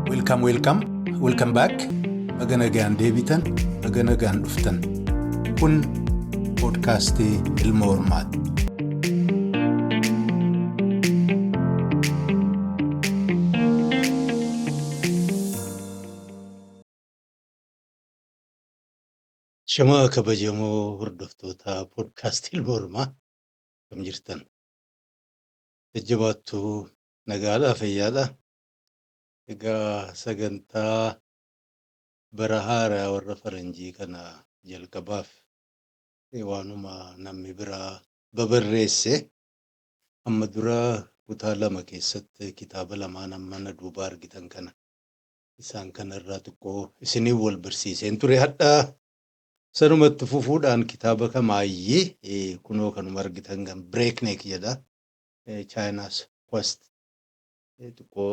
Welcome, welcome, welcome back. Baga nagaan deebitan, baga nagaan dhuftan. Kun poodkaastii ilma hormaati. Shamaa kabajamoo hordoftoota poodkaastii ilma hormaa. Akkam jirtan? Jajjabaattu nagaadhaa fayyaadha. Egaa sagantaa bara haaraa warra faranjii kana jalqabaaf eh, waanuma namni biraa babarreesse amma dura kutaa lama keessatti kitaaba lamaan amma na duubaa argitan kana isaan kana irraa xiqqoo isiniin wal barsiiseen ture hadhaa Sanuma itti fufuudhaan kitaaba kamaayyi kunoo kanuma argitan kan Breakneck jedha. China's Quest xiqqoo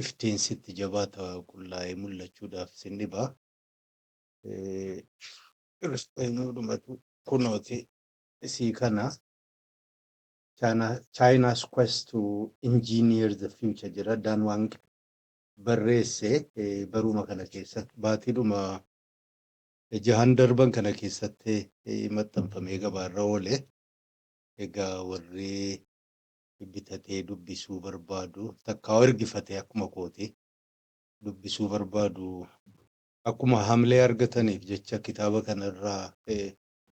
iftiin sitti jabaata qullaa'ee mul'achuudhaaf sin dhiba. Kiristaanoodhumatu kunooti isii kana China's Quest to Engineer the Future jedha Dan Wang barreesse baruma kana keessatti baatiidhuma jahan darban kana keessatti maxxanfamee gabaarra oole. Egaa warri bitatee dubbisuu barbaadu takkaa ergifatee akkuma kooti dubbisuu barbaadu akkuma hamlee argataniif jecha kitaaba kana irraa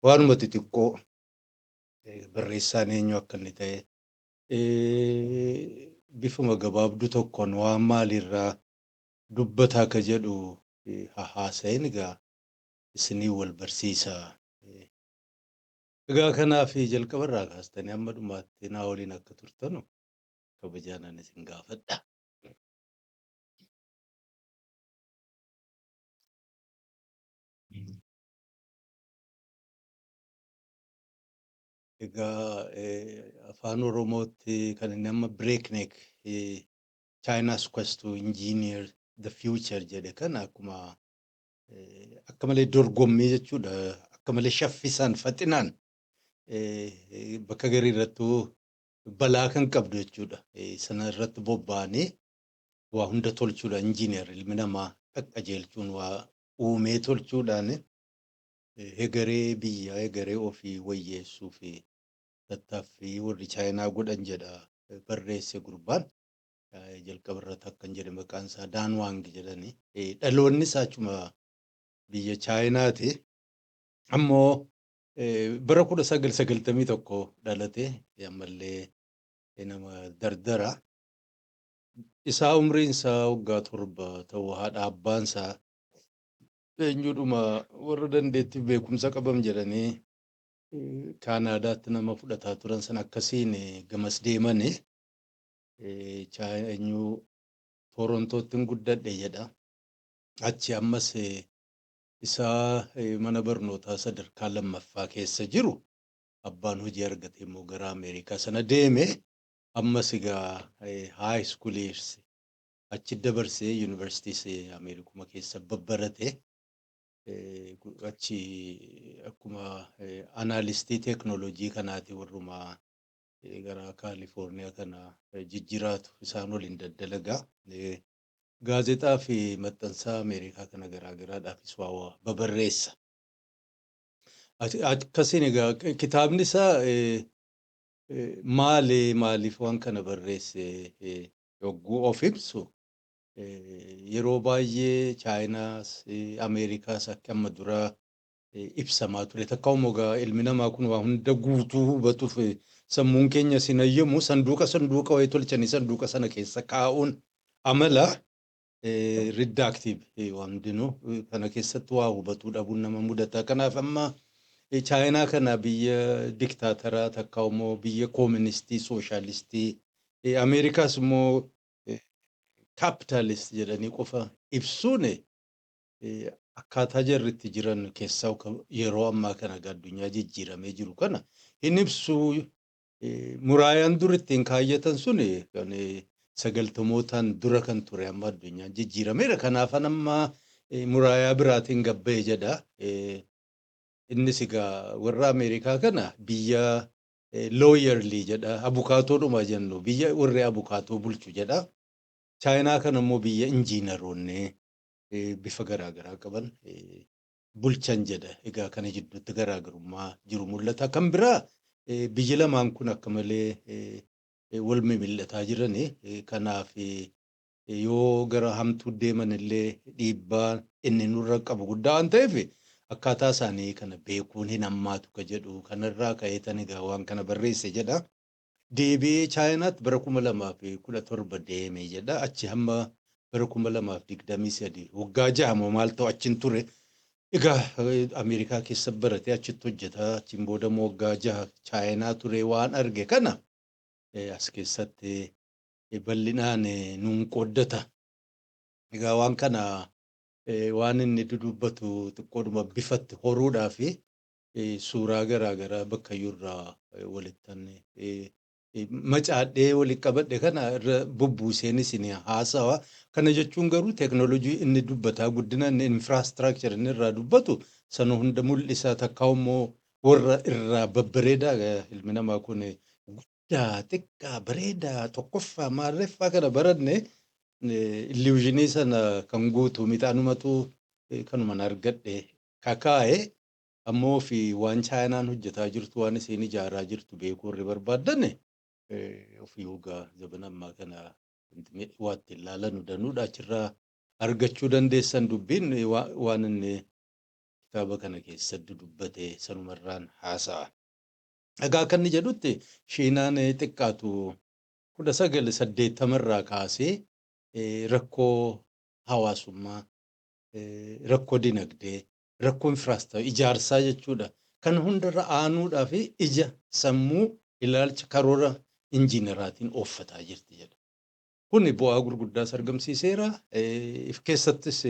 waanuma xixiqqoo barreessaan eenyu akka inni ta'e bifuma gabaabdu tokkoon waan maaliirraa dubbata akka jedhu haa haasayin egaa isiniin wal barsiisa. Egaa kanaaf jalqaba irraa kaastanii amma dhumaatti naa waliin akka turtanu kabajaanan isin gaafadha. Egaa afaan Oromootti kan inni amma breakneck China's Quest to Engineer the Future jedhe kan akkuma akka malee dorgommii jechuudha. Akka malee shaffisaan faxinaan bakka garii irrattuu balaa kan qabdu jechuudha. Sana irratti bobba'anii waa hunda tolchuudha injiineer ilmi namaa qaqqajeelchuun waa uumee tolchuudhaan hegaree biyyaa hegaree ofii wayyeessuu fi tattaaffii warri Chaayinaa godhan jedha barreesse gurbaan. Jalqaba irratti akkan jedhe maqaan isaa Daan Waang jedhani. Dhaloonni isaa achuma biyya Chaayinaati. Ammoo bara kudha sagal sagaltamii tokko dhalate ammallee nama dardara. Isaa umriin isaa waggaa torba ta'u haadha abbaan isaa eenyudhuma warra dandeettiif beekumsa qabam jedhanii Kaanaadaatti nama fudhataa turan sana akkasiin gamas deemani. Chaanyuu Toorontootti guddadhe jedha. Achi ammas isaa mana barnootaa sadarkaa lammaffaa keessa jiru abbaan hojii argatee immoo gara Ameerikaa sana deeme. Ammas egaa haay iskuuliis achi dabarsee yuunivarsiitiis Ameerikuma keessa babbarate. achi akkuma anaalistii teeknooloojii kanaati warruma gara Kaalifoorniyaa kana jijjiraatu isaan waliin daddalaga. Gaazexaa fi maxxansaa Ameerikaa kana garaagaraadhaafis waa babarreessa. Akkasiin egaa kitaabni isaa maali maaliif waan kana barreesse yogguu of ibsu Yeroo baay'ee Chaayinaas, Ameerikaas akka amma duraa ibsamaa ture. Takkaa'u mogaa ilmi namaa kun waa hunda guutuu hubatuuf sammuun keenya sin hayyamu sanduuqa sanduuqa wayii tolchanii sanduuqa sana keessa kaa'uun amala riddaaktiiv waan hundinuu kana keessatti waa hubatuu dhabuun nama mudata. Kanaaf amma Chaayinaa kana biyya diktaataraa takkaa'u immoo biyya kooministii sooshaalistii Ameerikaas immoo capitalist jedhanii qofa ibsuun akkaataa jarri itti jiran keessaa yeroo ammaa kana addunyaa jijjiiramee jiru kana hin ibsu. Muraayaan dur ittiin kaayyatan sun kan sagaltamootaan dura kan ture amma addunyaan jijjiirameera. Kanaafan amma muraayaa biraatiin gabba'e jedha. Innis egaa warra Ameerikaa kana biyya lawyerly jedha abukaatoodhuma jennu biyya warri abukaatoo bulchu jedha chaayinaa kana immoo biyya injiinaroonni eh, bifa garaa garaa qaban eh, bulchan jedha egaa kana jidduutti garaagarummaa jiru mul'ata kan biraa eh, biyyi lamaan kun akka malee eh, eh, wal mimil'ataa jirani eh, kanaaf eh, yoo gara hamtuu deeman illee dhiibbaa inni nurra qabu guddaa waan ta'eef akkaataa isaanii kana beekuun hin hammaatu ka jedhu kanarraa ka'eetan egaa waan kana barreesse jedha. Deebi'ee Chaayinaatti bara 2017 deeme jedha. Achi hamma bara 2023 waggaa jaha moo maal ta'u achin ture. Egaa Ameerikaa keessa barate achitti hojjeta. Achiin booda immoo waggaa jaha Chaayinaa ture waan arge kana as keessatti bal'inaan nuun qooddata. Egaa waan kana waan inni dudubbatu xiqqoodhuma bifatti horuudhaaf suuraa garaa garaa bakkayyuu irraa walittan macaadhee walitti qabadhe kana irra bubbuuseen isin haasawa. Kana jechuun garuu teeknooloojii inni dubbataa guddina inni infiraastraakchar inni irraa dubbatu sana hunda mul'isa takkaa immoo warra irraa babbareedaa ilmi namaa kun guddaa xiqqaa bareedaa tokkoffaa maarreffaa kana baranne illusionii sana kan guutu miti anumatu eh, kanuman argadhe kakaa'e ammoo fi waan chaayinaan hojjetaa jirtu waan isiin ijaaraa jirtu beekuu warri barbaadane eh, ofii hogaa zabana ammaa kana wanti mi- waa ittiin laalanu danuudha achirraa argachuu dandeessan dubbiin eh, waa- waan inni kitaaba kana keessatti dubbate sanumarraan haasa'a. Egaa akka inni jedhutti Shiinaan xiqqaatu 1980 irraa kaasee rakkoo hawaasummaa, rakkoo dinagdee, rakkoo infiraastructure, ijaarsaa jechuudha. Kana hundarra aanuudhaa fi ija, sammuu, ilaalcha, karoora injiinaraatiin ooffataa jirti jedha. Kuni bu'aa gurguddaas argamsiiseera. If keessattis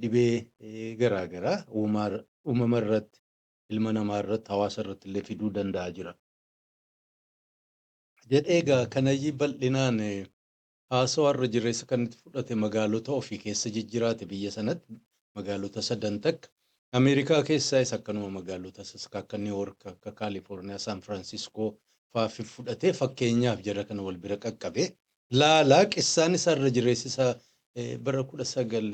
dhibee garaagaraa uumama irratti ilma namaa irratti, hawaasa irratti illee fiduu danda'a jira. jedhee egaa kanayyii bal'inaan haasawaa irra jireessa kan itti fudhate magaalota ofii keessa jijjiraate biyya sanatti magaalota sadan takka Ameerikaa keessaayis akkanuma magaalota saska akka New York akka Kaalifoorniyaa Saan Firaansiskoo faa fudhatee fakkeenyaaf jara kana wal bira qaqqabe laalaa qissaan isaa irra jireessi isaa bara kudha sagal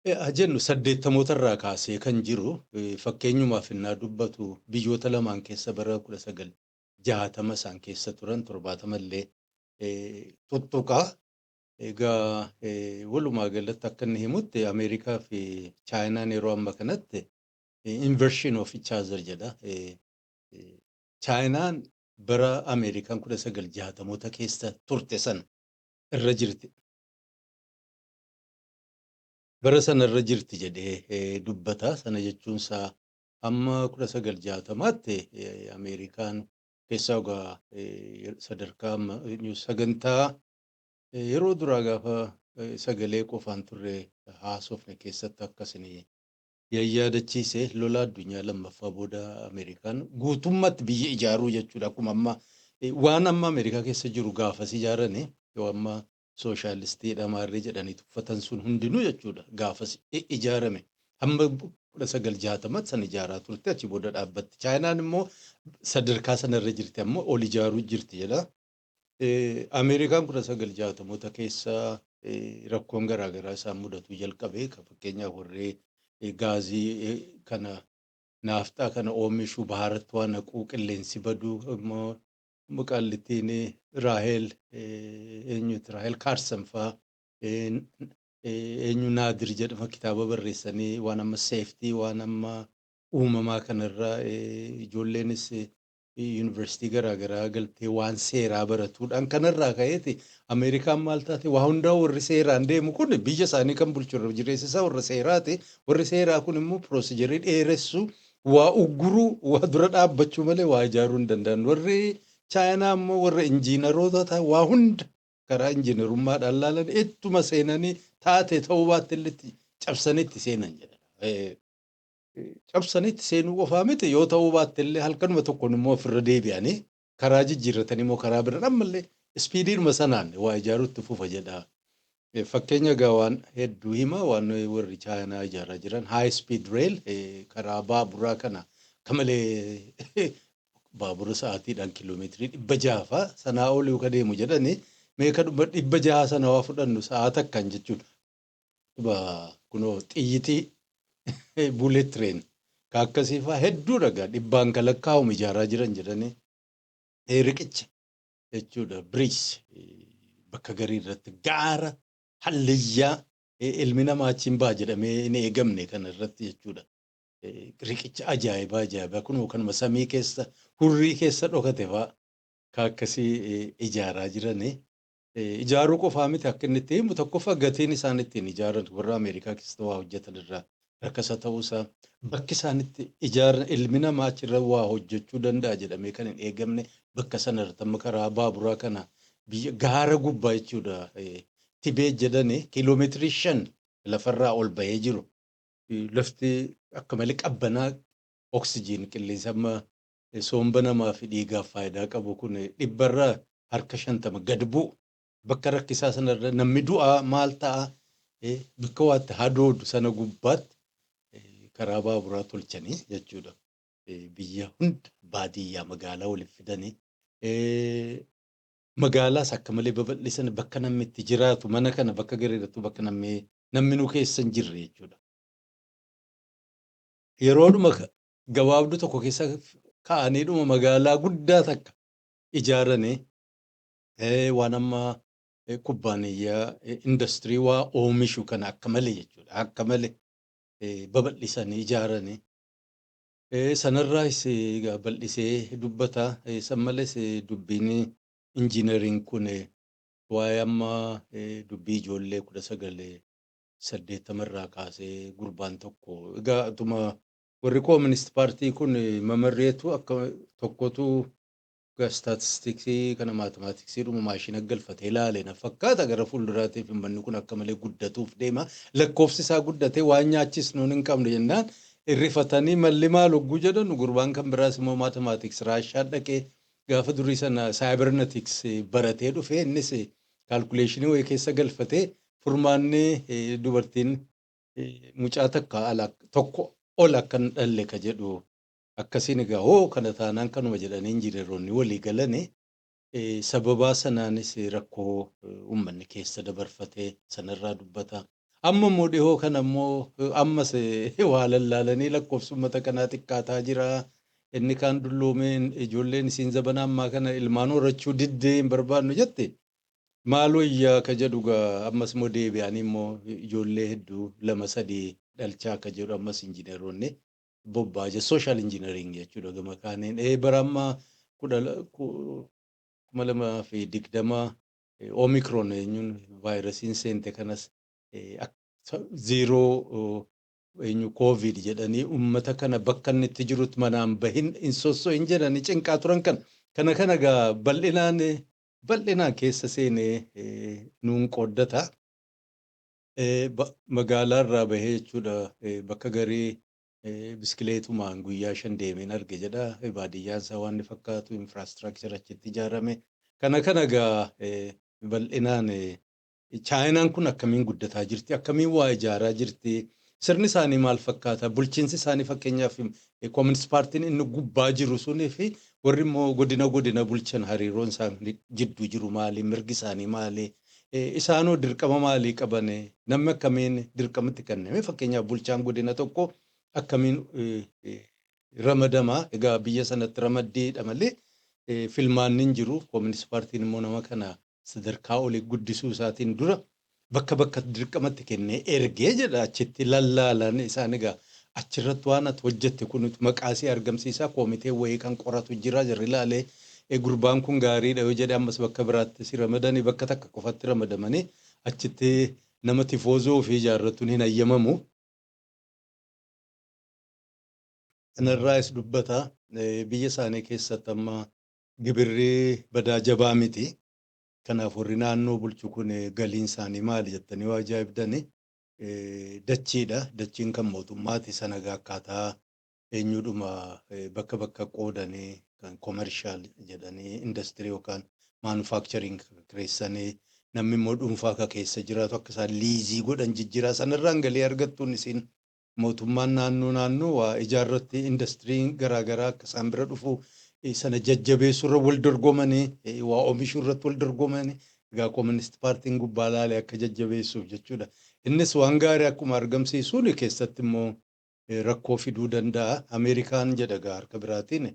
haa jennu saddeettamootarraa kaasee kan jiru fakkeenyumaaf ennaa dubbatu biyyoota lamaan keessa bara 1960 isaan keessa turan 70 illee tuttuqa. Egaa walumaa galatti akka inni himutti Ameerikaa fi Chaayinaan yeroo amma kanatti inversion of each other jedha. Chaayinaan bara Ameerikaan 1960moota keessa turte sana irra jirti. Bara sana irra jirti jedhee dubbata. Sana jechuun isaa hamma 1960tti Ameerikaan keessaa ogaa sadarkaa amma sagantaa yeroo duraa gaafa sagalee qofaan turre haasofne keessatti akkasin yayyaadachiise lola addunyaa lammaffaa booda Ameerikaan guutummaatti biyya ijaaruu jechuudha. Akkuma amma waan amma Ameerikaa keessa jiru gaafas ijaaranii yoo amma sooshaalistiidha maarree jedhanii tuffatan sun hundinuu jechuudha gaafas ijaarame hamma 1960 san ijaaraa turte achi booda dhaabbatti chaayinaan immoo sadarkaa sanarra jirti amma ol ijaaruu jirti jedha. Ameerikaan 1960moota keessa rakkoon garaagaraa isaan mudatuu jalqabe kan fakkeenyaaf warree gaazii kana naafxaa kana oomishuu baharatti waan haquu qilleensi baduu immoo Qaallittiin Raahel eenyuti Raahel Kaarsan faa eenyu Naadir jedhama kitaaba barreessanii waan amma seeftii waan amma uumamaa kanarra ijoolleenis yuunivarsiitii garaagaraa galtee waan seeraa baratuudhaan kanarraa ka'eeti Ameerikaan maal taate waa hundaa warri seeraan deemu kun biyya isaanii kan bulchu irra jireessisaa warra seeraati warri seeraa kun immoo piroosejerii dheeressu waa ugguruu, waa dura dhaabbachuu malee waa ijaaruu hin danda'an. Warri Chaayinaa immoo warra injiinaroota ta'an waa hunda karaa injiinarummaadhaan laalan ittuma seenanii taate ta'uu baatte illee itti cabsanii itti seenan jedha. Eh, Cabsanii itti seenuu qofaa miti yoo ta'uu baatte illee halkanuma tokkoon immoo ofirra deebi'anii karaa jijjiirratanii moo karaa biraan ammallee ispiidiidhuma sanaan waa ijaaruu itti fufa jedha. Fakkeenya egaa waan hedduu hima waan warri Chaayinaa ijaaraa jiran high speed rail karaa baaburaa kana akka malee baabura sa'aatiidhaan kiiloomeetirii dhibba jaha fa'a sanaa olii ka deemu jedhani mee kadhuma dhibba jaha sana waa fudhannu sa'aa takkaan jechuun ba kunoo xiyyitii bullet train ka akkasii faa hedduudha gaa dhibbaan ka lakkaa'amu ijaaraa jiran jedhanii eh, riqicha jechuudha bridge eh, bakka garii irratti gaara hallayyaa eh, ilmi namaa achiin baha jedhamee hin eegamne kana irratti jechuudha. Eh, Riqicha ajaa'ibaa ajaa'ibaa kunoo kanuma samii keessa hurrii keessa dhokate faa ka akkasii eh, ijaaraa jiranii. ijaaruu qofaa miti akka inni itti himu tokkoffaa gatiin isaan ittiin ijaaran warra Ameerikaa keessatti waa hojjetan irraa rakkasa ta'uusaa bakki isaan itti ijaaran ilmi namaa achirra waa hojjechuu danda'a jedhamee kan hin eegamne bakka sana irratti amma karaa baaburaa kana biyya gaara gubbaa jechuudha eh, tibee jedhani kiiloomeetirii shan lafarraa ol bahee jiru. Lafti akka malee qabbanaa oksijiin qilleensa amma soomba namaa fi dhiigaaf faayidaa qabu kun dhibba irraa harka shantama gad bu'u. Bakka rakkisaa sana irra namni du'a maal ta'a? Bakka waa itti hadoodu sana gubbaatti karaa baaburaa tolchanii jechuudha. Biyya hunda baadiyyaa magaalaa waliif fidanii magaalaas akka malee babal'isanii bakka namni itti jiraatu mana kana bakka gariirrattuu bakka namni namni nu keessa hin jirre jechuudha. Yeroodhuma gabaabduu tokko keessa ka'aniidhuma magaalaa guddaa takka ijaaranii eh, waan amma eh, kubbaaniyyaa eh, industirii waa oomishu kana akka malee jechuudha akka malee eh, babal'isanii ijaaranii Eh, sanarraas eh, egaa bal'isee dubbata Eh, san malees eh, dubbiin injiineriin kun eh, waa'ee amma eh, dubbii ijoollee kudha sagalee saddeettama irraa kaasee gurbaan tokko egaa utuma Warri Koominist Paartii kun mamarreetu akka tokkotu ga staatistiksii kana maatimaatiksiidhuma maashina galfatee laale na fakkaata gara fuulduraatiif ummanni kun akka malee guddatuuf deema lakkoofsi isaa guddatee waan nyaachis nuun hin qabne jennaan irrifatanii malli maal hogguu jedhanu gurbaan kan biraas immoo maatimaatiks raashaa dhaqee gaafa durii sana saayibernatiks baratee dhufee innis kaalkuleeshinii wayii keessa galfatee furmaanni dubartiin mucaa takka ala tokko ol akka hin dhalle ka jedhu akkasiin egaa hoo kana taanaan kanuma jedhanii injineroonni walii galani eh, sababaa sanaanis rakkoo eh, uummanni keessa dabarfate sanarraa dubbata. Amma immoo dhihoo kana immoo eh, ammas eh, waa lallaalanii lakkoofsi uummata kanaa xiqqaataa jira. Inni kaan dulloomeen ijoolleen isiin zabana ammaa kana ilmaan horachuu diddee hin barbaannu jette Maal wayyaa ka jedhu gaa ammas immoo deebi'anii immoo ijoollee hedduu lama sadii dhalchaa ka jedhu ammas injineroonni bobbaa je social engineering jechuudha gama kaaniin ee bara amma kudha la- ku- kuma lamaa fi digdama eh, omicron eenyuun vaayirasiin seente kanas eh, ak- sa- ziiroo oh, eenyu covid jedhanii ummata kana bakka inni itti jirutti manaan bahin hin sosso'in jedhanii cinqaa turan kana kana kana gaa bal'inaan eh, bal'inaan keessa seenee nuun qooddata. Magaalaa irraa bahee jechuudha bakka garii biskileetumaan guyyaa shan deemeen arge jedha. Baadiyyaan isaa waan inni fakkaatu, infrastructure achitti ijaarame. Kana kana egaa bal'inaan Chaayinaan kun akkamiin guddataa jirti? Akkamiin waa ijaaraa jirti? Sirni isaanii maal fakkaata? Bulchiinsi isaanii fakkeenyaaf Communist Paartiin inni gubbaa jiru sunii fi warri immoo godina godina bulchan hariiroon isaanii jidduu jiru maali? Mirgi isaanii maali? Isaanoo dirqama maalii qaban? Namni akkamiin dirqama itti kenname? Fakkeenyaaf bulchaan godina tokko akkamiin ramadama? Egaa biyya sanatti ramaddiidha malee filmaanni hin jiru. Communist Paartiin immoo nama kana sadarkaa oli guddisuu isaatiin dura bakka bakkatti dirqamatti kennee ergee jedha achitti lallaalan isaan egaa achirratti waan ati hojjette kun maqaa si argamsiisaa koomitee wayii kan qoratu jira jarri laalee e, gurbaan kun gaariidha yoo jedhe ammas bakka biraatti si ramadanii bakka takka qofatti ramadamanii achitti nama tifoozoo ofii ijaarratuun hin hayyamamu. Kanarraas dubbata eh, biyya isaanii keessatti amma Gibirri badaa jabaa miti. Kanaaf warri naannoo bulchu kun galiin isaanii maali jettanii yoo ajaa'ibdan dachiidha. Dachiin kan mootummaati. Sana egaa akkaataa eenyuudhuma bakka bakka qoodanii kan komershaal jedhanii indastirii yookaan maanufaakchariin kireessanii namni immoo dhuunfaa ka keessa jiraatu akka isaan liizii godhan jijjiiraa sanarraan galii argattuun isiin mootummaan naannoo naannoo waa ijaarratti indastiriin garaa garaa akka isaan bira dhufu sana jajjabeessuurra wal dorgomanii waa oomishuurratti wal dorgomanii egaa kooministi paartiin gubbaa laalee akka jajjabeessuuf jechuudha. Innis waan gaarii akkuma argamsiisuun keessatti immoo rakkoo fiduu danda'a. Ameerikaan jedha egaa harka biraatiin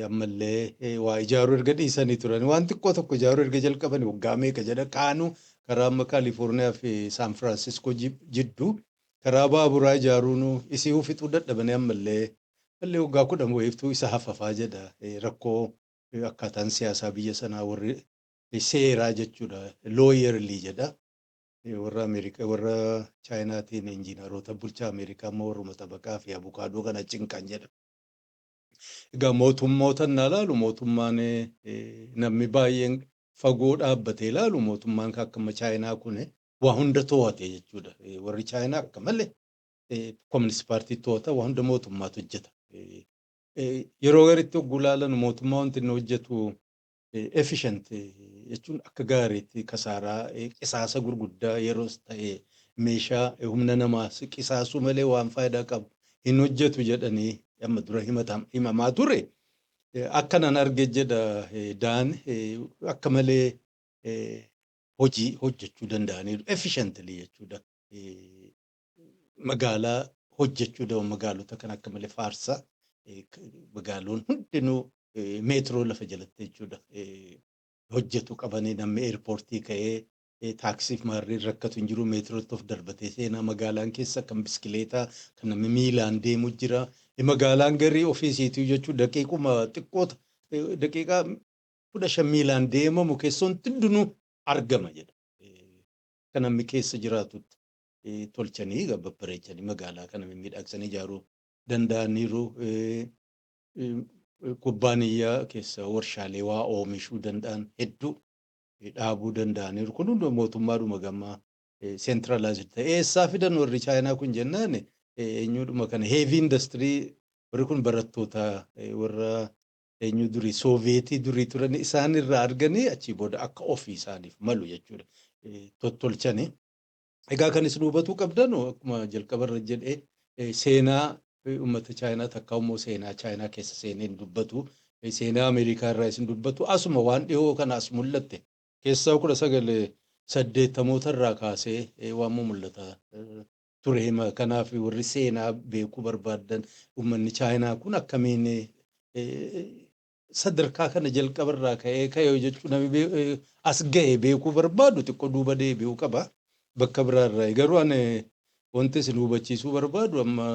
Ammallee waa ijaaruu erga dhiisanii turanii waan xiqqoo tokko ijaaruu erga jalqabanii waggaa meeqa jedha kaanuu karaa amma Kaalifoorniyaa fi Saan Firaansiskoo jidduu karaa baaburaa ijaaruun isii fixuu dadhabanii ammallee mallee waggaa kudhan wayiiftuu isa hafafaa jedha rakkoo akkaataan siyaasaa biyya sanaa warri seeraa jechuudha looyerlii jedha warra Ameerikaa warra Chaayinaatiin injiinaroota bulchaa Ameerikaa amma warruma xabaqaa fi abukaadoo kana cinqan jedha. Egaa mootummoota innaa ilaalu mootummaan namni baay'een fagoo dhaabbatee ilaalu mootummaan akka amma Chaayinaa kun waa hunda to'ate jechuudha. Warri Chaayinaa akka malee Kominist Paartii to'ata waa hunda mootummaatu hojjeta. Yeroo garitti hogguu ilaalan mootummaa wanti inni hojjetu Efficient jechuun akka gaariitti kasaaraa qisaasa gurguddaa yeroos ta'e meeshaa humna namaa qisaasuu malee waan faayidaa qabu hin hojjetu jedhanii amma dura himamaa ture. Akka nan arge jedha Daan akka malee hojii hojjechuu danda'aniiru. Efficiently jechuudha. magaalaa hojjechuu daba magaalota kan akka malee faarsa magaaloon hundinuu meetiroo lafa jalatti jechuudha hojjetu qabanii namni eerpoortii ka'ee taaksiif maarreen rakkatu hin jiru meetirootti of darbatee seenaa magaalaan keessa kan biskileetaa kan namni miilaan deemu jira magaalaan garii ofiisiituu jechuu daqiiquma xiqqoota daqiiqaa kudha shan miilaan deemamu keessoon hundinuu argama jedha kan namni keessa jiraatutti tolchanii egaa babbareechanii magaalaa kana mimmiidhagsanii ijaaruu danda'aniiru. Kubbaaniyyaa keessa warshaalee waa oomishuu danda'an hedduu dhaabuu danda'aniiru. Kun hunduma mootummaadhuma gama centralized ta'e. Eessaa fidan warri Chaayinaa kun jennaan eenyuudhuma kana heavy industry warri kun barattoota warra eenyu durii sooviyeetii durii turan isaan irraa arganii achii booda akka ofii isaaniif malu jechuudha tottolchanii. Egaa kan isin hubatuu qabdanu akkuma jalqaba irra jedhe seenaa uummata Chaayinaa takkaa immoo seenaa Chaayinaa keessa seenee hin dubbatu. Seenaa Ameerikaa irraa isin dubbatu asuma waan dhihoo kana as mul'atte keessaa kudha sagal saddeettamoota irraa kaasee waan mul'ata ture hima. Kanaaf warri seenaa beekuu barbaaddan uummanni Chaayinaa kun akkamiin sadarkaa kana jalqaba irraa ka'ee ka'ee hojjechuu namni bee- eh, as ga'e beekuu barbaadu xiqqoo duuba deebi'uu qaba. Bakka biraa irraa garuu ani wanti isin hubachiisuu barbaadu amma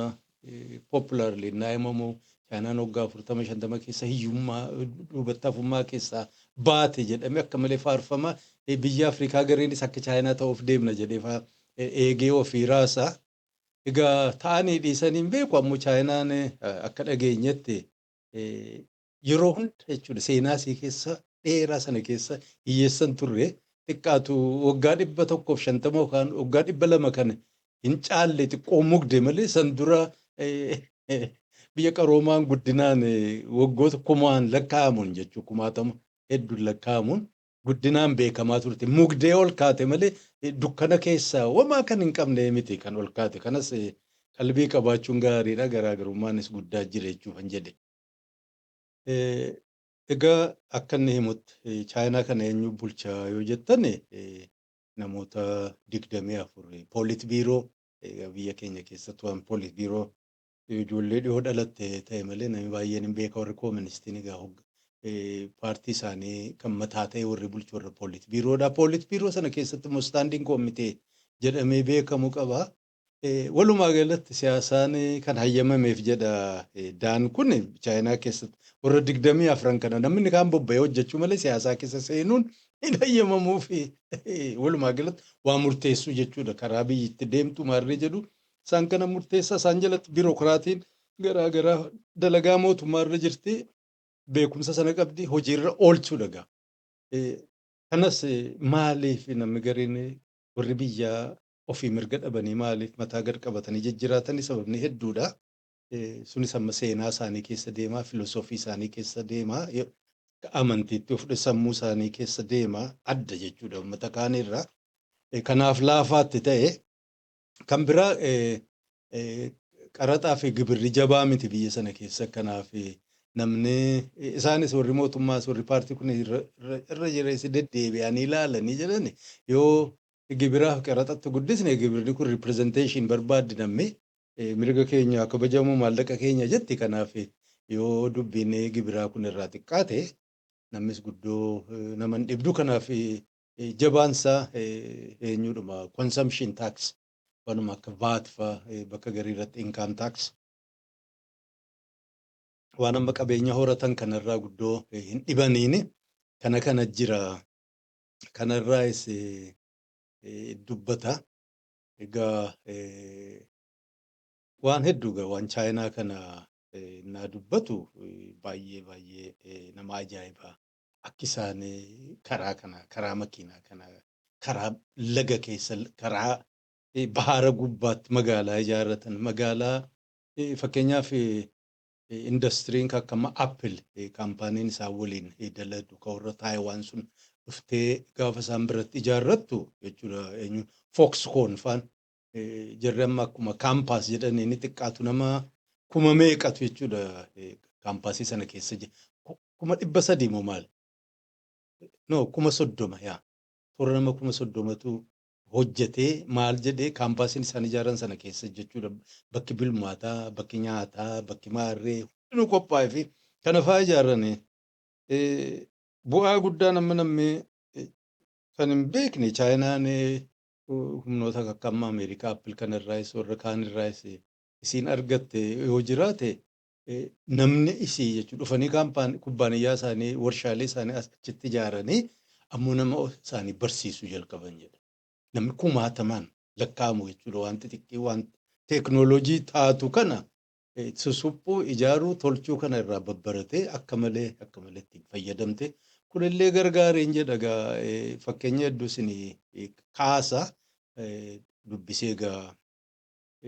popularly naa himamu chaanaan waggaa afurtama shantama keessa hiyyummaa eh, duubatti hafummaa keessaa baate jedhamee akka malee faarfama Eh, biyya Afrikaa gareenis akka chaayinaa ta'uuf deemna jedhee faa eh, eegee ofii raasaa. Egaa ta'anii dhiisanii hin beeku ammoo chaayinaan eh, akka dhageenyetti yeroo hunda jechuudha seenaa isii keessa dheeraa sana keessa hiyyeessan turre xiqqaatu waggaa dhibba tokkoof shantama yookaan waggaa dhibba lama kana hin caalle xiqqoo mugde malee san dura biyya qaroomaan guddinaan waggoota kumaan lakkaa'amuun jechuudha kumaatama hedduun lakkaa'amuun guddinaan beekamaa turte. Mugdee ol kaate malee eh, dukkana keessa wamaa kan hin qabne miti kan ol kaate. Kanas eh, qalbii qabaachuun gaariidha. Garaagarummaanis guddaa jira jechuuf hin jedhe. Eh, Egaa akka inni himutti eh, Chaayinaa kana eenyu bulchaa yoo jettan eh, namoota digdamii afur poolit biiroo egaa biyya keenya keessatti waan poolit biiroo Yoo ijoollee dhihoo dhalatte ta'e malee namni baay'een hin beeka warri kooministiin egaa paartii isaanii kan mataa ta'e warri bulchu warra poolit biiroodha. Poolit biiroo sana keessatti immoo istaandiin koomitee jedhamee beekamu qaba. Walumaa galatti siyaasaan kan hayyamameef jedha daan kun chaayinaa keessatti warra digdamii afran kana namni kaan bobba'ee hojjechuu malee siyaasaa keessa seenuun hin hayyamamuuf walumaa galatti waa murteessuu jechuudha karaa biyyitti deemtu maarree jedhu isaan kana murteessaa isaan jalatti biirokiraatiin garaa garaa dalagaa mootummaa irra jirti beekumsa sana qabdi hojiirra oolchuu dhagaa. Kanas maaliif namni gariin warri biyyaa ofii mirga dhabanii maaliif mataa gad qabatanii jijjiraatanii sababni hedduudha. Sunis amma seenaa isaanii keessa deemaa, filosoofii isaanii keessa deemaa, amantiitti of sammuu isaanii keessa deemaa adda jechuudha uummata kaaniirraa. Kanaaf laafaatti ta'e Kan biraa qaraxaa fi gibirri jabaa miti biyya sana keessa kanaaf namni isaanis warri mootummaas warri paartii kun irra jireessi deddeebi'anii ilaalanii jedhan yoo gibiraaf qaraxatti guddisne gibirri kun ripirezenteeshin barbaaddi namni mirga keenya akka bajamu maallaqa keenya jetti kanaaf yoo dubbiin gibiraa kun irraa xiqqaate namnis guddoo naman dhibdu kanaaf jabaan isaa eenyuudhuma consumption tax wanuma akka VAT fa bakka garii irratti income tax waan amma qabeenya horatan kanarraa guddoo hin dhibaniini kana kana jira kanarraas dubbata egaa waan hedduu egaa waan chaayinaa kana naa dubbatu baay'ee baay'ee nama ajaa'iba akki isaan karaa kana karaa makiinaa kana karaa laga keessa karaa bahaara gubbaatti magaalaa ijaarratan magaalaa fakkeenyaaf indastiriin akka amma appil kaampaaniin isaan waliin daladu ka warra taayiwaan sun dhuftee gaafa isaan biratti ijaarrattu jechuudha eenyu fookskoon faan Jarri amma akkuma kaampaas jedhanii ni xiqqaatu nama kuma meeqatu jechuudha kaampaasii sana keessa jira. Kuma dhibba sadii moo maali? No kuma soddoma yaa. Toora nama kuma soddomatu hojjetee maal jedhee kaampaasiin isaan ijaaran sana keessa jechuudha. Bakki bilmaataa, bakki nyaataa, bakki maarree hundinuu qophaa'ee fi kana fa'aa ijaaranii bu'aa guddaan amma namni kan hin beekne chaayinaan humnoota akka amma Ameerikaa Apple kana irraayis warra kaan irraayis isiin argatte yoo jiraate namni isii jechuudha dhufanii kaampaan kubbaaniyyaa isaanii warshaalee isaanii achitti ijaaranii ammoo nama isaanii barsiisuu jalqaban jedha. Namni kumaatamaan lakkaa'amu jechuudha waan xixiqqii waan teeknooloojii taatu kana susuphuu, ijaaruu, tolchuu kana irraa babbaratee akka malee akka malee ittiin fayyadamte. Kunillee gargaareen jedha egaa fakkeenya hedduu isin kaasa dubbisee egaa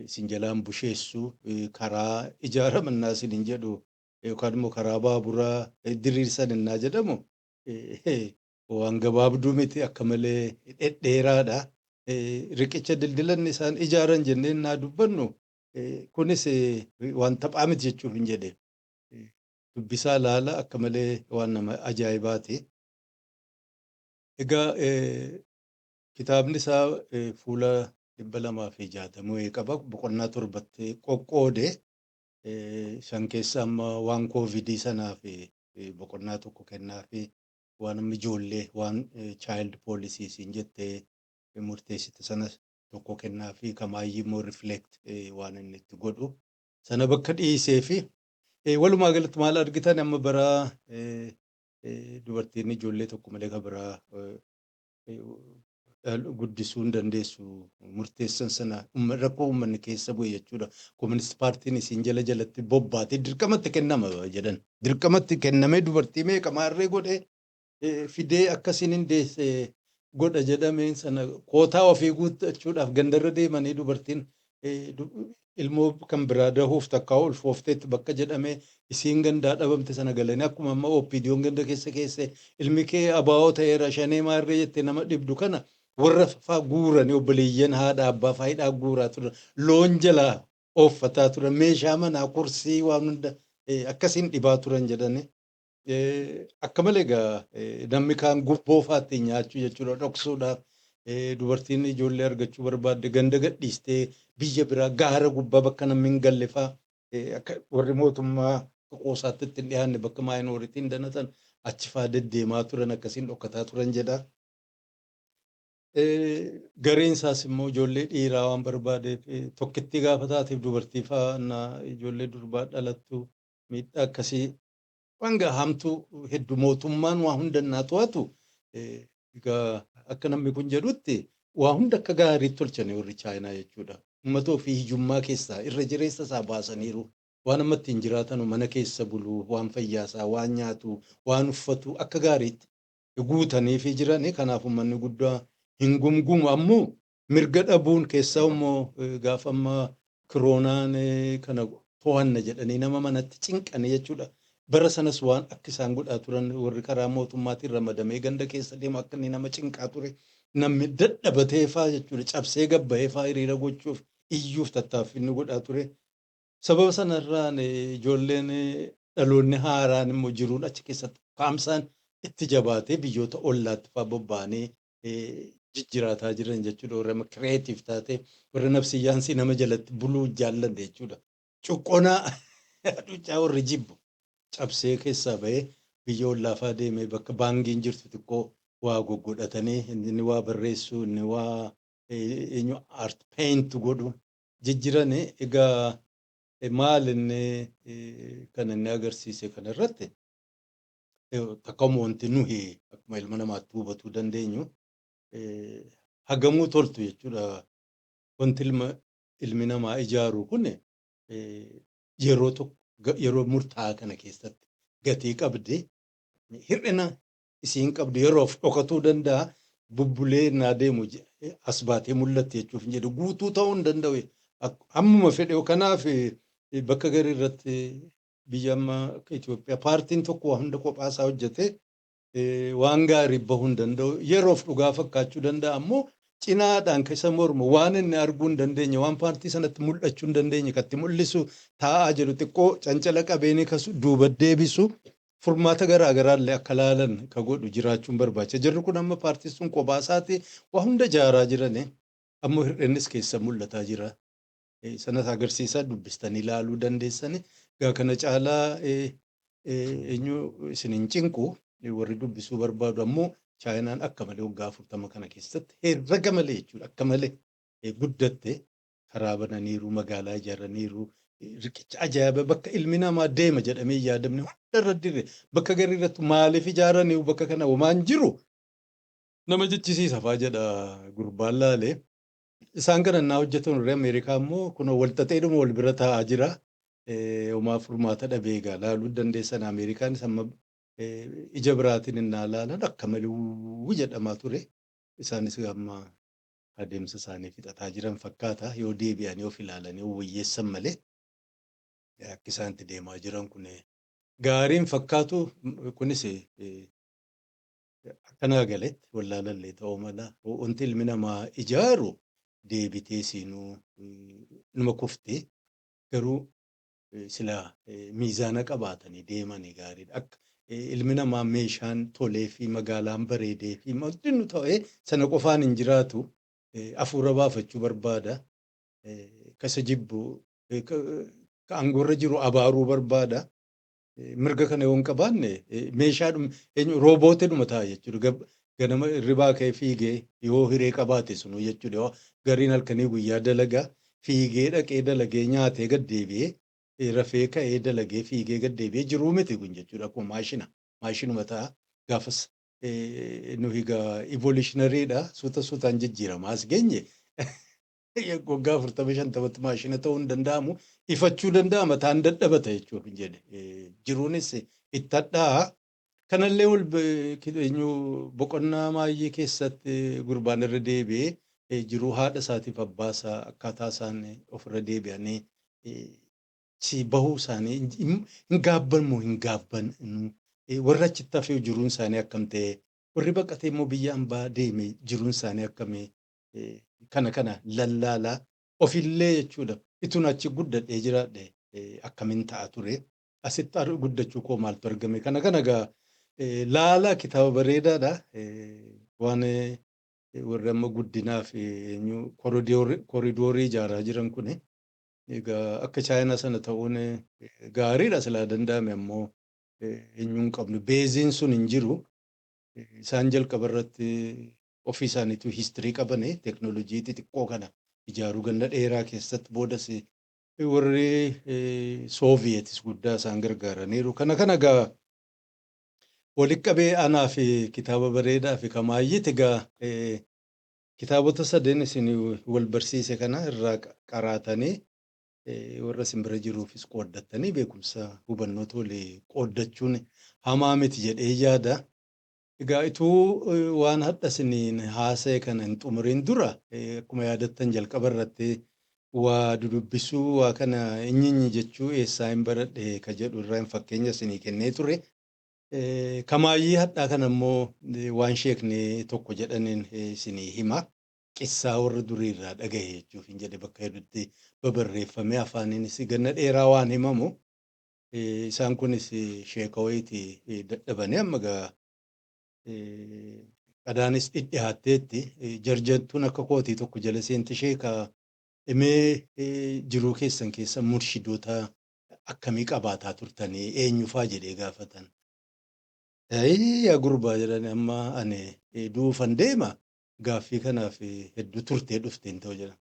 isin jalaan busheessu karaa ijaarama innaa isin hin jedhu yookaan immoo karaa baaburaa diriirsan innaa jedhamu waan gabaabduu miti akka malee dhedheeraadha. Riqicha dildilanni isaan ijaaran jennee innaa dubbannu Kunis waan taphaa miti jechuuf hin jedhe. Dubbisaa laala akka malee waan nama ajaa'ibaati. Egaa kitaabni isaa fuula dhibba lamaa fi jaatamuu qaba. Boqonnaa torbatti qoqqoode. Shan keessa amma waan koovidii sanaa fi boqonnaa tokko kennaa fi waan amma ijoollee waan child policies hin jettee murteessite sanas tokko kennaafi ka maayyii immoo reflect waan inni itti godhu sana bakka dhiiseefi walumaa galatti maal argitan amma bara dubartiin ijoollee tokko malee ka biraa guddisuu hin dandeessu murteessan sana rakkoo uummanni keessa bu'e jechuudha. Koominist paartiin isiin jala jalatti bobbaatee dirqamatti kennama jedhan. Dirqamatti kennamee dubartii meeqa maarree godhee fidee akka isin hin deesse godha jedhameen sana kootaa ofii guuttachuudhaaf gandarra deemanii dubartiin ilmoo kan biraa dahuuf takkaa ulfoofteetti bakka jedhamee isiin gandaa dhabamte sana galanii akkuma amma OPDOn ganda keessa keesse ilmi kee abaa'oo ta'eera shanee maarree jettee nama dhibdu kana warra faa guuranii obboleeyyan haadha abbaa faa hidhaa guuraa turan loon jalaa ooffataa turan meeshaa manaa kursii waan hunda akkasiin dhibaa turan jedhanii Akka malee egaa namni kaan gubboo faatti nyaachuu jechuudha dhoksuudhaaf dubartiin ijoollee argachuu barbaadde ganda gadhiistee biyya biraa gaara gubbaa bakka namni hin galle faa akka warri mootummaa qoosaatti itti hin dhiyaanne bakka maayinooritiin danatan achi faa deddeemaa turan akkasiin dhokkataa turan jedha. Gareen isaas immoo ijoollee dhiiraa waan barbaadeef tokkittii gaafa taateef dubartii faa ijoollee durbaa dhalattu miidhaa akkasii Waan gaa hamtuu heddu mootummaan waa hunda innaa to'atu egaa akka namni kun jedhutti waa hunda akka gaariitti tolchani warri Chaayinaa jechuudha. Uummata ofii hiyyummaa keessaa irra jireessa isaa baasaniiru. Waan amma ittiin jiraatanu mana keessa bulu, waan fayyaa isaa, waan nyaatu, waan uffatu akka gaariitti guutaniifii jirani. Kanaaf uummanni guddaa hin gumgumu. Ammoo mirga dhabuun keessaa immoo gaafa amma kiroonaan kana to'anna jedhanii nama manatti cinqanii jechuudha. Bara sanas waan akka isaan godhaa turan warri karaa mootummaatiin ramadamee ganda keessa deemu akka inni nama cinqaa ture namni dadhabatee faa jechuudha cabsee gabbahee faa hiriira gochuuf iyyuuf tattaaffii inni godhaa ture. Sababa sanarraan ijoolleen dhaloonni haaraan immoo jiruun achi keessatti kaamsaan itti jabaatee biyyoota ollaatti faa bobba'anii jijjiraataa jiran jechuudha. Warra amma kireetiif taatee warra nafsiyyaansii nama jalatti buluu jaallanne jechuudha. Cuqqonaa hacuuccaa warri jibbu cabsee keessaa bahee biyya ollaafaa deemee bakka baangiin jirtu xiqqoo waa goggodhatanii inni waa barreessuu inni waa eenyu art paint godhu jijjirani egaa maal inni kan inni agarsiise kanarratti Takkauma wanti nuhi akkuma ilma namaatti hubatuu dandeenyu hagamuu toltu jechuudha. Wanti ilma ilmi namaa ijaaru kun yeroo tokko yeroo murtaa'aa kana keessatti gatii qabdi. Hir'ina isiin qabdu yeroof dhokatuu danda'a. Bubbulee naa deemu as baatee mul'atti jechuuf hin jedhu guutuu ta'uu hin danda'u. Hammuma fedhe kanaaf bakka garii irratti biyya amma akka Itoophiyaa paartiin tokko waa hunda kophaa isaa hojjetee eh, waan gaarii bahuu hin danda'u. Yeroof dhugaa fakkaachuu danda'a ammoo cinaadhaan kan isa mormu waan inni arguu hin dandeenye waan paartii sanatti mul'achuu hin dandeenye kan itti mul'isu taa'aa jiru xiqqoo cancala qabeenii kasu duuba deebisu furmaata garaa garaallee akka laalan ka godhu jiraachuun barbaacha. Jirri kun amma paartiin sun kophaa isaati waa hunda jaaraa jiranii ammoo hir'innis keessa mul'ataa jira. sanas agarsiisa dubbistanii ilaaluu dandeessani. Egaa kana caalaa eenyu isin hin cinqu warri dubbisuu barbaadu ammoo chaayinaan akka malee waggaa afurtama kana keessatti herrega malee jechuudha akka malee guddatte karaa bananiiru magaalaa ijaaraniiru riqicha ajaa'iba bakka ilmi namaa deema jedhamee hin yaadamne hunda irra dirre bakka garii irratti maaliif ijaaraniiru bakka kana homaan jiru nama jechisiisa faa jedha gurbaan laalee. Isaan kana innaa hojjetan warri Ameerikaa immoo kunoo wal xaxeedhuma wal bira taa'aa jira. Eh, Homaa furmaata dhabee egaa laaluu dandeessan Ameerikaanis amma eh, ija biraatiin innaa laalan akka malee wuu jedhamaa ture. Isaanis amma adeemsa isaanii fixataa jiran fakkaata. Yoo deebi'anii of ilaalanii of wayyeessan malee eh, akki isaan itti deemaa jiran kun eh, gaariin fakkaatu kunis eh, Akka naa galetti wallaalallee ta'uu mala. Wanti ilmi namaa ijaaru deebitee siinuu numa kufti. Garuu silaa miizaana qabaatanii deemanii gaariidha. Akka ilmi namaa meeshaan tolee fi magaalaan bareedee fi hundinuu ta'ee sana qofaan hin jiraatu. Afuura baafachuu barbaada. Ka isa jibbu ka aangoorra jiru abaaruu barbaada. mirga kana yoo hin qabaanne meeshaadhuma eenyu roobootidhuma ta'a jechuudha. Ganama hirribaa ka'ee fiigee yoo hiree qabaate sunuu jechuudha. Yoo gariin halkanii guyyaa dalagaa fiigee dhaqee dalagee nyaatee gad deebi'ee rafee ka'ee dalagee fiigee gad deebi'ee jiruu miti kun jechuudha. Akkuma maashina maashinuma ta'a gaafas nuyi egaa evolutionaryidha suuta suutaan jijjiiramaa as geenye waggaa afurtamii shantamatti maashina ta'uu hin danda'amu ifachuu danda'ama taan dadhabata jechuudha hin jedhe Eh, jiruunis itti hadhaa kanallee wal be- ki- eenyu boqonnaa maayyii keessatti gurbaan irra deebi'ee eh, jiruu haadha isaatiif abbaa isaa akkaataa isaan ofirra deebi'anii eh, si bahuu isaanii hin hin- hin gaabban moo hin gaabban nu eh, warra achitti hafee jiruun isaanii akkam ta'e warri baqatee immoo biyya ambaa deeme jiruun isaanii akkamii kana kana lallaala ofillee jechuudha itun achi guddadhee jiraadhe akkamin ta'a ture asitti ar- guddachuu koo maaltu argame kana kana gaa laala kitaaba bareedaadha waan warri amma guddinaaf eenyu koridoorii ijaaraa jiran kun egaa akka chaayinaa sana ta'uun gaariidha silaa danda'ame ammoo eenyuun qabnu beeziin sun hin jiru isaan jalqaba irratti Ofii isaaniituu history qabani technology xixiqqoo kana ijaaruu ganna dheeraa keessatti boodas warri Soviets guddaa isaan gargaaraniiru. Kana kana egaa walitti qabee anaa fi kitaaba bareedaa fi kamaayyiti egaa kitaabota sadeen isin wal barsiise kana irraa qaraatanii warra isin bira jiruufis qooddattanii beekumsa hubannoota walii qooddachuun hamaa miti jedhee yaada. Egaa ituu waan hadha isiniin haasa'e kana hin xumuriin dura akkuma yaadattan jalqaba irratti waa dudubbisuu waa kana inyinyi jechuu eessaayin baradhe ka jedhu irraan fakkeenya isinii kennee ture. Kamaayyii hadhaa kana immoo waan sheekni tokko jedhaniin isinii hima. Qissaa warra durii irraa dhagahe jechuufiin jedhe bakka hedutti babarreeffamee afaaniinis ganna dheeraa waan himamu. Isaan kunis sheeka wayiiti dadhabanii amma egaa qadaanis dhidhihaatteetti jarjartuun akka kootii tokko jala seente sheeka imee jiruu keessan keessa murshidoota akkamii qabaataa turtanii eenyufaa jedhee gaafatan. Ayii yaa gurbaa jedhan amma ani du'uufan deema gaaffii kanaaf hedduu turtee dhufteen ta'u jedhan.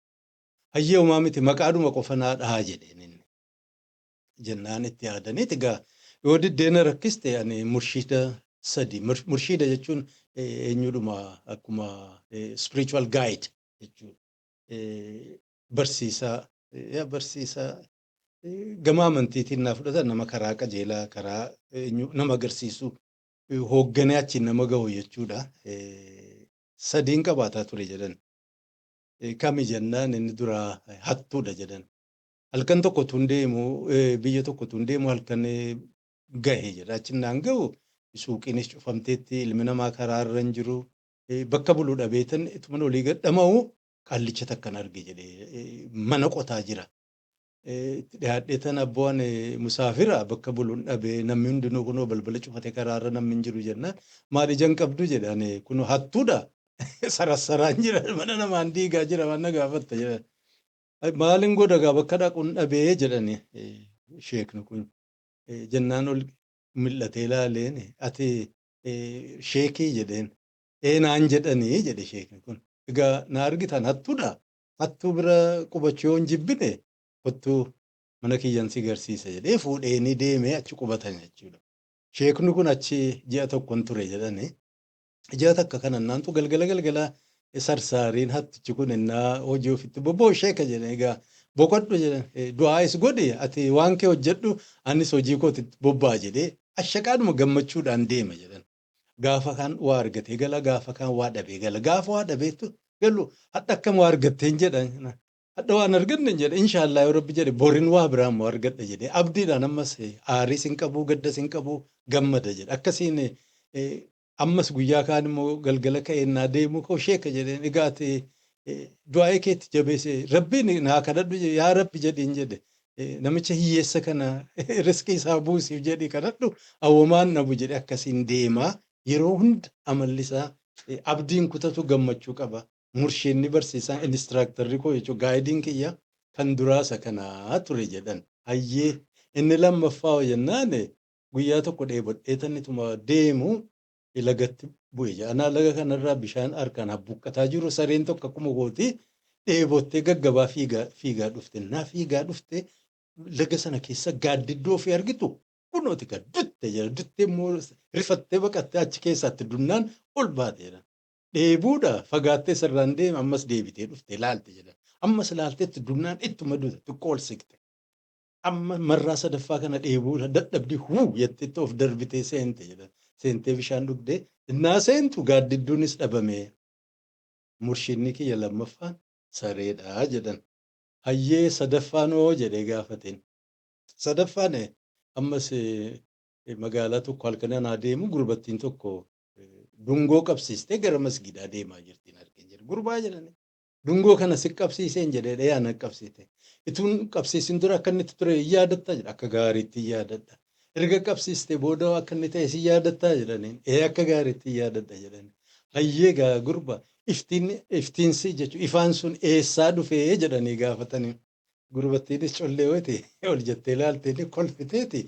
Hayyee homaa miti maqaadhuma qofa naa dhahaa jedheen inni. jennaan itti yaadaniiti egaa yoo diddee na rakkiste ani murshiida sadi mur- murshiida jechuun eh, eenyudhuma akkuma eh, spiritual guide jechuudha. Eh, Barsiisaa eh, yaa barsiisaa eh, gama amantiitiin naa fudhatan nama karaa qajeelaa karaa eenyu nama agarsiisu eh, hoogganee achiin nama gahu jechuudha. Eh, Sadiin qabaataa ture jedhan. Eh, Kami jennaan inni duraa eh, hattuudha jedhan. Halkan tokko utuun deemu biyya tokko utuun deemu halkan gahe jedha. Achi naan gahu suuqiinis cufamteetti ilmi namaa karaa irra hin jiru. Bakka bulu dhabeetan ituman olii gad dhama'u qaallicha takkan arge jedhee mana qotaa jira. Itti dhiyaadheetan abboo ani musaafira bakka bulun dhabe namni hundinuu kunoo balbala cufate karaa irra namni hin jiru jennaan maal ija hin qabdu jedhe ani kunoo hattuudha sarassaraan jira mana namaan diigaa jira waan na gaafatta jedhan. Ay, Maalin godha gaa bakka dhaqun dhabee jedhani eh, sheekni kun Eh, jennaan ol mil'atee laaleen eh, ati eh, sheekii jedheen ee naan jedhanii jedhe sheekni kun egaa na argitan hattudha hattuu bira qubachuu yoon jibbine kottuu mana kiyyan si garsiisa jedhee fuudhee ni deemee achi qubatan jechuudha sheekni kun achi ji'a tokkon ture jedhani Ji'a takka kan annaantu galgala galgala sarsaariin hattichi kun innaa hojii ofitti bobboo sheeka jedhan egaa boqodhu jedhan du'aayis godhi ati waan kee hojjedhu anis hojii kooti bobbaa jedhee ashaqaadhuma gammachuudhaan deema jedhan. Gaafa kaan waa argatee gala gaafa kaan waa dhabee gala gaafa waa dhabeetu galu hadha akkam waa argatteen jedhan hadha waan argannen jedhe inshaallaa yoo rabbi jedhe borin waa biraa immoo argadha jedhee abdiidhaan ammas aariis hin qabuu gaddas hin qabuu gammada jedhe akkasiin Ammas guyyaa kaan immoo galgala ka'ee innaa deemu koo sheeka jedheen egaa ati du'aa'ee kee itti jabeesse rabbiin naa kadhadhu yaa rabbi jedhiin jedhe namicha hiyyeessa kana riskii isaa buusiif jedhii kadhadhu awwamaan dhabu jedhe akkasiin deema yeroo hunda amalli isaa abdiin kutatu gammachuu qaba murshiinni barsiisaan inistiraaktarri koo jechuun gaayidiin kiyya kan duraasa kanaa ture jedhan hayyee inni lammaffaa hoo jennaane Guyyaa tokko dheebodheetan ituma deemu lagatti bu'e jedha. Anaa laga kanarraa bishaan harkaan habbuqqataa jiru sareen tokko akkuma kooti dheebottee gaggabaa fiigaa fiigaa dhufte. Naa fiigaa dhufte laga sana keessa gaaddidduu ofii argitu kunooti gaa dutte jedha. Duttee immoo rifattee baqattee achi keessaatti dunnaan ol baate jedha. Dheebuudha fagaattee sarraan deema ammas deebitee dhufte laalte jedha. Ammas laalteetti dunnaan ittuma dute xiqqoo ol siqxe. Amma marraa sadaffaa kana dheebuu irra dadhabdee huu jettee itti of darbitee seente jedhan. Seentee bishaan dhugde. Innaa seentu gaaddidduunis dhabame. Murshiidni kiyya lammaffaan sareedha jedhan. Hayyee sadaffaan hoo jedhee gaafateen. Sadaffaan ammas magaalaa tokko halkan anaa deemu gurbattiin tokko dungoo qabsiistee gara masgiidaa deemaa jirtiin arge jedhe. Gurbaa jedhanii. Dungoo kana si qabsiiseen jedhe dha'ee ana qabsiite. Ituun qabsiisin dura akka inni itti ture hin yaadattaa jedhe akka gaariitti hin yaadadha. Erga qabsiistee booda hoo akka inni ta'e si yaadattaa jedhaniin ee akka gaariitti hin yaadadha jedhani. Hayyee gaa gurba iftiin iftiinsi jechuun ifaan sun eessaa dhufe jedhanii gaafatani. Gurbattiinis collee wayiti ol jettee ilaalteeni kolfiteeti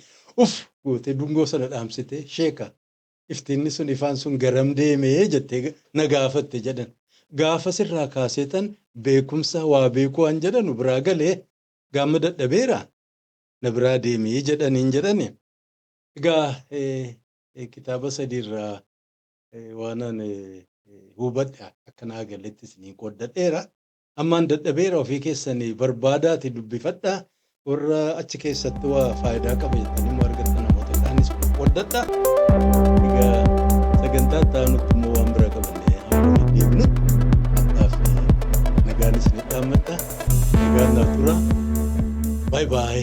uff gootee dungoo sana dhaamsitee sheeka. iftiinni sun ifaan sun garam deeme jettee na gaafatte jedhan. Gaafas irraa kaaseetan beekumsa waa beekuu an jedhanu biraa gale gaamma dadhabeera na biraa deemi jedhaniin jedhani. Egaa kitaaba sadii irraa waanan hubadhe akka naa galetti isiniin qooddadheera. Ammaan dadhabeera ofii keessani barbaadaati dubbifadha warra achi keessatti waa faayidaa qaba jettanii immoo argatta namoota kaanis qoqqoddadha. Egaa sagantaa itti aanutti immoo waan bira qabannee amma walitti deebinutti hadhaaf nagaan isinitti dhaammadha. Nagaan naaf tura. Baay baay.